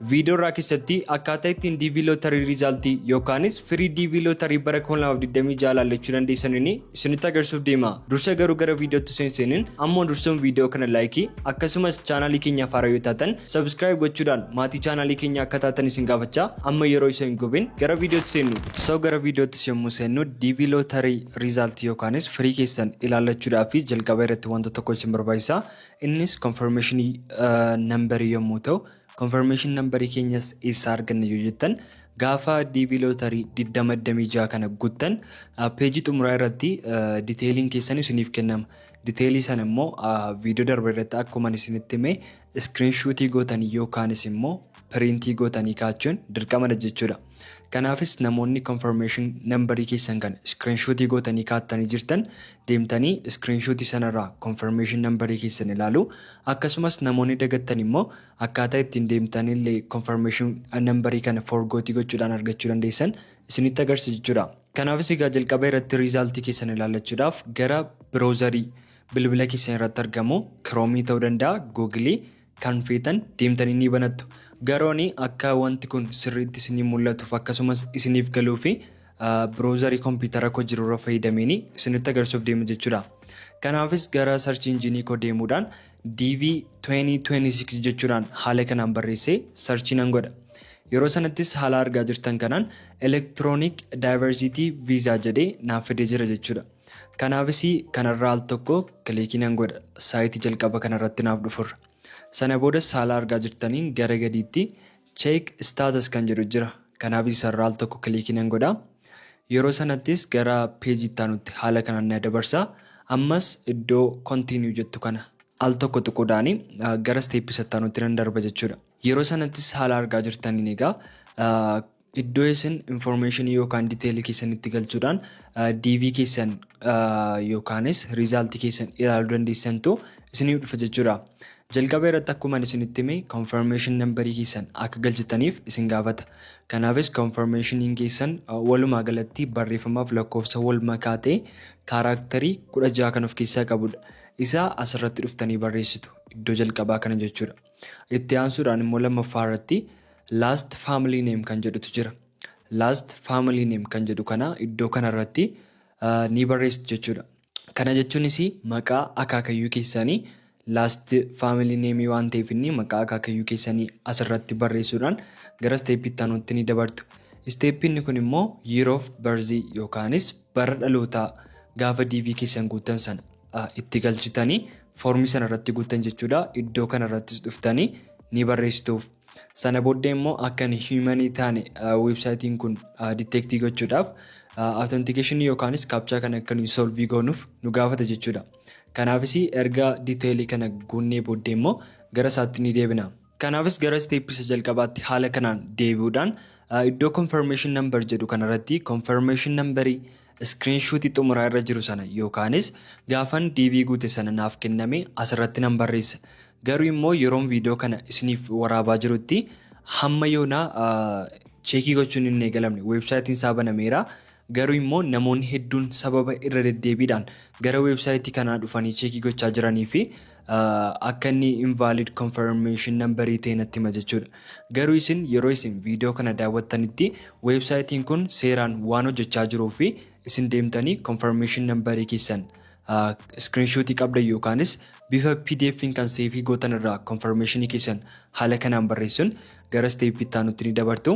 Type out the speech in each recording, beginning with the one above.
Viidiyoo irraa keessatti akkaataa ittiin DV Lottery Result yookaanis firii DV Lottery bara 2026 ilaallachuu dandeessaniin isinitti agarsiisuuf deema. Dursa garuu gara viidiyootti seenseeniin ammoo dursuun viidiyoo kana laayikii akkasumas chaanaalii keenyaaf haaraa yoo taatan subscribe gochuudhaan maatii chaanaalii keenyaa akka taatan isin gaafachaa amma yeroo isa hin gubin gara viidiyootti seennu. So gara viidiyoottis yommuu seennu DV Lottery Result yookaanis firii keessan ilaallachuudhaaf jalqaba irratti wanta tokko isin barbaachisa. Innis confirmation number yommuu ta'u confirmation number keenyas eessaa arganna yoo jettan gaafa DB lottery 2026 kana guttan peejii xumuraa irratti detailiin keessan isiniif kennama. Detailii sana immoo viidiyoo darbe irratti akkuma isinitti hime screenshootii gootanii yookaanis immoo piriintii gootanii kaachuun dirqamadha jechuudha. Kanaafis namoonni confirmation number keessan kan screenshot gootanii kaattanii jirtan deemtanii screenshot sanarraa confirmation number keessan ilaalu. Akkasumas namoonni dagattan immoo akkaataa ittiin deemtanii illee confirmation number kana forgooti gochuudhaan argachuu dandeessan isinitti agarsiisa jechuudha. Kanaafis egaa jalqaba irratti result keessan ilaallachuudhaaf gara browserii bilbila keessan irratti argamu Chrome ta'uu danda'a, Google Kan feetan deemtanii ni banattu. Garooni akka wanti kun sirriitti isinii mul'atuuf akkasumas isiniif galuu fi browserii kompiitara koo jiru irra fayyadameeni isinitti agarsiisuuf deema jechuudha. Kanaafis gara search engine koo deemuudhaan DV 2026 jechuudhaan haala kanaan barreessee search nan godha. Yeroo sanattis haala argaa jirtan kanaan electronic diversity visa jedhee naaf fidee jira jechuudha. Kanaafis kanarra al tokko kiliikii nan godha saayitii jalqaba kanarratti naaf dhufurra. Sana boodas haala argaa jirtaniin gara gadiitti Check Status kan jedhu jira. Kanaafis isarra al tokko kiliikii nan godha. Yeroo sanattis gara peejii itti aanutti haala kanaan na dabarsa. Ammas iddoo Continue jettu kana al tokko tuquudhaan gara step isa itti aanutti nan darba jechuudha. Yeroo sanattis haala argaa jirtaniin egaa Iddoo isin information yookaan detail keessan itti galchuudhaan DV keessan yookaanis result keessan ilaaluu dandeessantu isiniif dhufa jechuudha. Jalqaba irratti akkuma isinitti hime confirmation number keessan akka galchitaniif isin gaafata. Kanaafis confirmationiin keessan walumaa galatti barreeffamaaf lakkoofsa wal makaa ta'e kaaraaktarii kudha jaha kan of keessaa qabudha. Isaa asirratti dhuftanii barreessitu iddoo jalqabaa kana jechuudha. Itti aansuudhaan immoo lammaffaa irratti last family name kan jedhutu jira. Last family name kan jedhu kana iddoo kana irratti ni barreessitu jechuudha. Kana jechuunis maqaa akaakayyuu keessanii last family name waan ta'eef inni maqaa akaakayyuu keessanii asirratti barreessuudhaan gara isteeppii itti aanutti ni dabartu. Isteeppii inni kun immoo year of birth yookaanis bara dhalootaa gaafa DV keessan guuttan sana itti galchitanii foormii sana irratti guuttan jechuudha. Iddoo kana irrattis dhuftanii ni barreessituuf. Sana booddee immoo akka hin hiimanii taane weebsaayitiin kun diteektii gochuudhaaf authentication yookaanis kaapchaa kana akka nuyi solvii goonuuf nu gaafata jechuudha. Kanaafis erga diteelii kana guunnee booddee immoo gara isaatti ni deebina. Kanaafis gara step isa jalqabaatti haala kanaan deebi'uudhaan iddoo confirmation number jedhu kanarratti confirmation number screenshot xumuraa irra jiru sana yookaanis gaafan DV guute sana naaf kenname asirratti nan barreessa. Garuu immoo yeroon viidiyoo kana isiniif waraabaa jirutti hamma yoonaa cheekii gochuun hin eegalamne weebsaayitiin isaa banameera. Garuu immoo namoonni hedduun sababa irra deddeebiidhaan gara weebsaayitii kanaa dhufanii cheekii gochaa jiranii fi akka inni invalid confirmation number ta'e natti hima jechuudha. Garuu isin yeroo isin viidiyoo kana daawwattanitti weebsaayitiin kun seeraan waan hojjechaa jiruu fi isin deemtanii confirmation number keessan screenshot qabda yookaanis bifa pdf kan seefii gootan irraa confirmation keessan haala kanaan barreessuun gara isteeppii itti aanutti ni dabartu.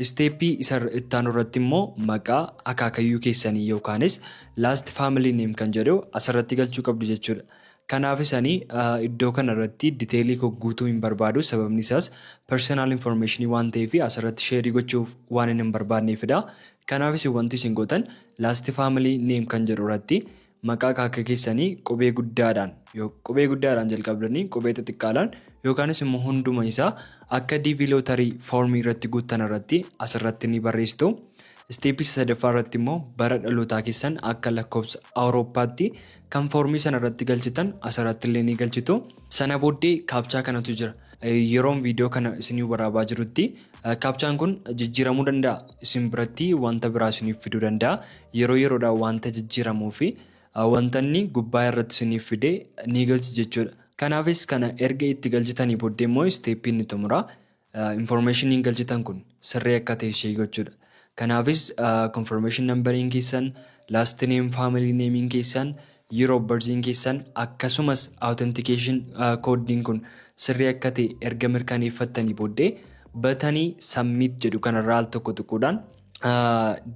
Isteeppii isa itti aanu irratti immoo maqaa akaakayyuu keessanii yookaanis last family name kan jedhu asirratti galchuu qabdu jechuudha. Kanaafis ani iddoo kana irratti diteelii koo guutuu hin barbaadu sababni isaas personal information waan ta'eef asirratti sheerii gochuuf waan hin barbaadneefidha. Kanaafis wanti isin gootan last family name kan jedhu irratti maqaa kaakka keessanii qubee guddaadhaan qubee guddaadhaan jalqabdanii qubee xixiqqaadhaan yookaanis immoo hunduma isaa akka DV lootarii foormii irratti guuttan irratti asirratti ni barreessitu. Isteepii sadaffaa irratti immoo bara dhalootaa keessan akka lakkoofsa Awurooppaatti Kan foormii sana irratti galchitan asirratti illee ni galchitu. Sana booddee kaapchaa kanatu jira. Yeroon viidiyoo kana isinii waraabaa jirutti kaapchaan kun jijjiiramuu danda'a. Isin biratti wanta biraa isiniif fiduu danda'a. Yeroo yeroodhaan wanta jijjiiramuu fi wanta inni gubbaa irratti isiniif fide ni galchi jechuudha. Kanaafis kana erga itti galchitanii booddee immoo isteeppii inni xumura. information galchitan kun sirrii akka ta'e ishee gochuudha. Kanaafis confirmation numbering keessan, last name, family name keessan, year of birth keessan akkasumas authentication code kun sirrii akka ta'e erga mirkaneeffattanii booddee batanii submit jedhu kanarraa al tokko tuquudhaan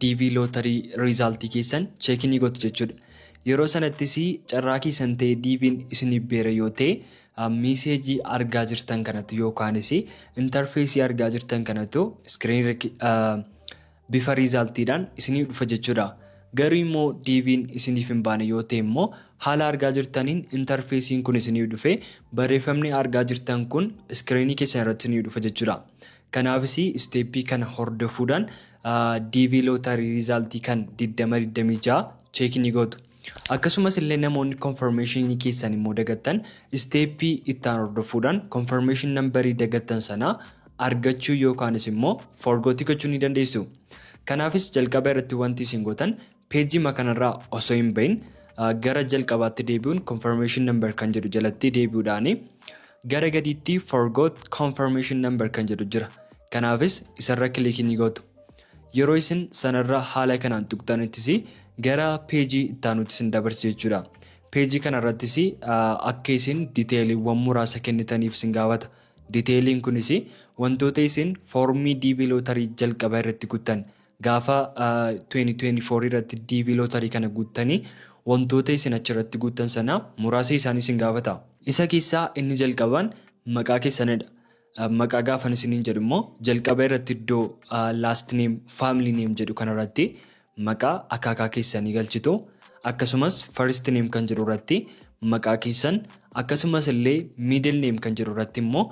DV lottery result keessan check ni gootu jechuudha. Yeroo sanattis carraa keessan ta'e DV'n isiniif beera yoo ta'e Miiseejii argaa jirtan kanatu yookaanis intarfeesii argaa jirtan kanatu iskiriin bifa riizaaltiidhaan isiniif dhufa jechuudha. Garuu immoo diiviin isiniif hin baane yoo ta'e immoo haala argaa jirtaniin intarfeesiin kun isiniif dhufe barreeffamni argaa jirtan kun iskiriinii keessan irratti isiniif dhufa jechuudha. Kanaafis isteeppii kana hordofuudhaan diivii lootarii riizaaltii kan 2026 cheekii ni gootu. Akkasumas illee namoonni confirmation keessan immoo dagattan step itti aanu hordofuudhaan confirmation number dagattan sana argachuu yookaanis immoo forgot gochuu ni dandeessu. Kanaafis jalqaba irratti wanti isin gootan pejima kanarraa osoo hin bahin gara jalqabaatti deebi'uun confirmation number kan jedhu jalatti deebi'uudhaan gara gadiitti forgot confirmation number kan jedhu jira. Kanaafis isarra click ni gootu. Yeroo isin sanarra haala kanaan tuqxanittis gara page ittaanutti isin dabarsa jechuudha. Page kanarrattis akka isin detailiwwan muraasa kennitaniif isin gaafata. Detailiin kunis wantoota isin foormii DB lottery jalqaba irratti guuttan gaafa 2024 irratti DB lottery kana guuttanii wantoota isin achirratti guuttan sana muraasa isaanii isin gaafata. Isa keessaa inni jalqabaan maqaa keessanidha. Maqaa gaafan isiniin jedhu immoo jalqaba irratti iddoo last name, family name jedhu kana irratti maqaa akaakaa keessanii galchitu. Akkasumas first name kan jedhu irratti maqaa keessan akkasumas illee middle name kan jedhu irratti immoo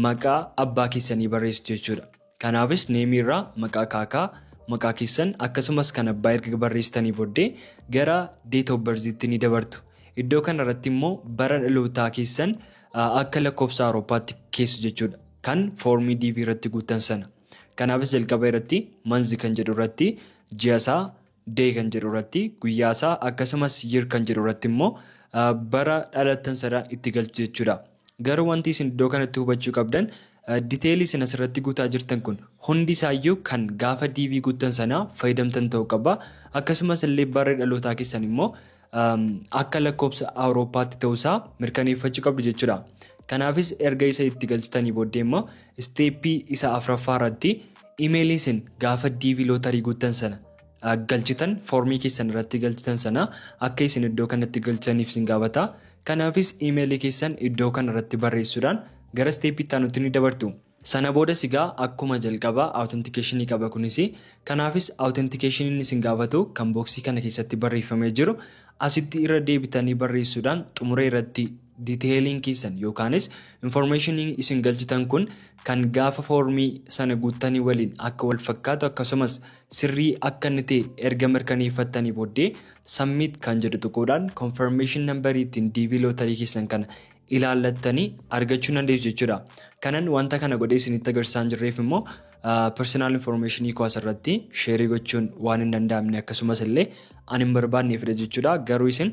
maqaa abbaa keessanii barreessitu jechuudha. Kanaafis neemii irraa maqaa akaakaa maqaa keessan akkasumas kan abbaa erga barreessitanii booddee gara date of birth tti ni dabartu. Iddoo kana irratti immoo bara dhalootaa keessan Akka lakkofsa Awurooppaatti keessa jechuudha. Kan foormii DV irratti guuttan sana. Kanaafis jalqaba irratti manzi kan jedhu irratti ji'a isaa day kan jedhu irratti guyyaa isaa akkasumas year kan jedhu irratti immoo bara dhalattan sana itti galchu jechuudha. Garuu wanti isin iddoo kanatti hubachuu qabdan diteelii isin asirratti guutaa jirtan kun hundi isaayyuu kan gaafa DV guuttan sana fayyadamtan ta'uu qaba. Akkasumas illee barri dhalootaa keessan immoo akka lakkoobsa awurooppaatti ta'uu isaa mirkaneeffachuu qabdu jechuudha. Kanaafis erga isa itti galchitanii booddee immoo isteeppii isa afraffaa irratti imeelii isin gaafa DV lootarii guuttan sana galchitan foormii keessan irratti galchitan sana akka isin iddoo kanatti galchaniif isin gaafata. Kanaafis imeelii keessan iddoo kana irratti barreessuudhaan gara isteeppii itti aanutti ni dabartu. Sana boodas egaa akkuma jalqabaa authentication qaba kunis. Kanaafis authentication inni isin gaafatu kan boksii kana keessatti barreeffamee jiru asitti irra deebitanii barreessuudhaan xumura irratti detailiin keessan yookaanis information isin galchitan kun kan gaafa foormii sana guuttanii waliin akka wal fakkaatu akkasumas sirrii akka inni ta'e erga mirkaneeffattanii booddee submit kan jedhu tuquudhaan confirmation number ittiin DV lottery keessan kana ilaallattanii argachuu dandeessu jechuudha. Kanan wanta kana godhee isinitti agarsiisaan jirreef immoo personal information koo asirratti sheerii gochuun waan hin danda'amne akkasumas illee ani hin barbaadneefidha jechuudha. Garuu isin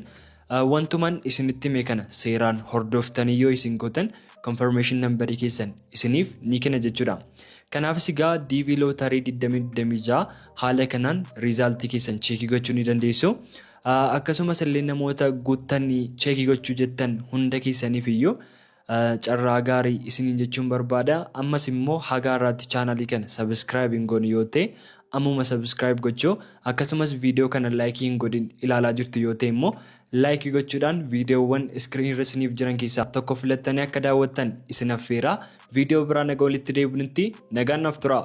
wantuman isinitti hime kana seeraan hordoftanii yoo isin gootan confirmation nambarii keessan isiniif ni kenna jechuudha. Kanaafis egaa DV lootarii 2026 haala kanaan riizaaltii keessan cheekii gochuu ni dandeessu. Akkasumas illee namoota guuttan cheekii gochuu jettan hunda keessaniif iyyuu carraa gaarii isiniin jechuun barbaada. Ammas immoo hagaa irraatti chaanalii kana subscribe hin goone yoo ta'e ammuma subscribe gochuu akkasumas viidiyoo kana like hin godhin ilaalaa jirtu yoo ta'e immoo like gochuudhaan viidiyoowwan screen irra isiniif jiran keessaa tokko filattanii akka daawwattan isin affeera. Viidiyoo biraa naga walitti deebinutti nagaan naaf turaa.